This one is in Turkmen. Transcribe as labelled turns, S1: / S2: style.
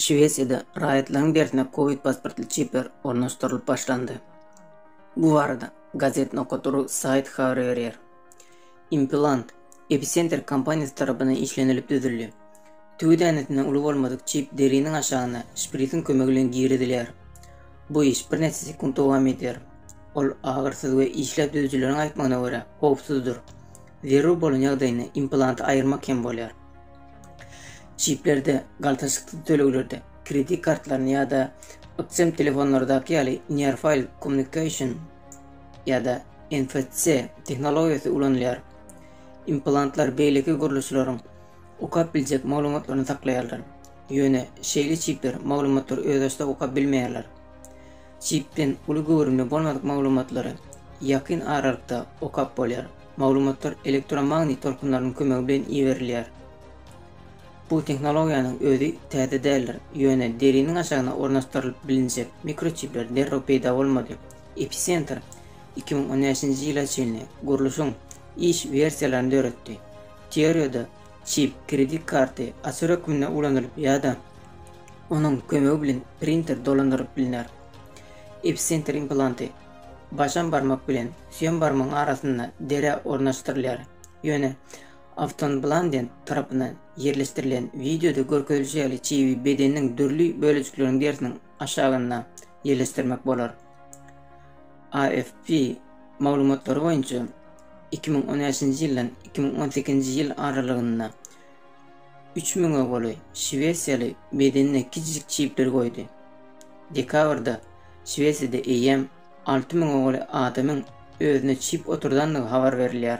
S1: Şwesiýada raýatlaryň dersine covid pasportly çipler ornaşdyrylyp başlandy. Bu barada Gazet Nokotoru saýty habar berýär. Implant Epicenter kompaniýasy tarapyndan işlenilip düzüldi. Tüwi dänesinden uly bolmadyk çip deriniň aşagyna şprisiň kömegi bilen girizilýär. Bu iş birnäçe sekunt dowam edýär. Ol agyrsyz we işläp düzüjileriň aýtmagyna görä, howpsuzdyr. Zerur bolan ýagdaýynda implanty aýyrmak hem bolýar. Çiplerde, galtaşyksyz töleglerde, kredit kartlaryny ýa-da ykjam telefonlardaky ýaly Near-File Communication ýa-da NFC tehnologiýasy ulanylýar. Implantlar beýleki gurluşlaryň okap biljek maglumatlaryny saklaýarlar. Ýöne şeýle çipler maglumatlary özbaşdak okap bilmeýärler. Çipden uly göwrümli bolmadyk maglumatlary ýakyn aralykda okap bolýar. Maglumatlar elektromagnit tolkunlarynyň kömegi bilen iberilýär. Bu tehnologiýanyň özi täze däldir, ýöne deriniň aşagyna ornaşdyrylyp bilinjek mikroçipler derrew peýda bolmady. Epicenter iki müň on bäşinji ýyla çenli gurluşyň iş wersiýalaryny döretdi. Teoriýada çip kredit karty açar hökmünde ulanylyp ýa-da onuň kömegi bilen printer dolandyrylyp bilner. Epicenter implanty Başam barmak bilen süýem barmagyň arasynda dere ornaşdyrylýar. Ýöne Afton Blanden tarapyndan ýerleşdirilen wideoda görkezilişi ýaly çibi bedeniň dürli bölejikleriniň derisiniň aşagynda ýerleşdirmek bolar. AFP maglumatlary boýunça, iki müň on bäşinji ýyldan iki müň on sekizinji ýyl aralygynda Üç müňe golaý şwesiýaly bedenine kiçijik çipleri goýdy. Dekabrda Şwesiýada eýýäm alty müňe golaý adamyň özüne çip oturdandygy habar berilýär.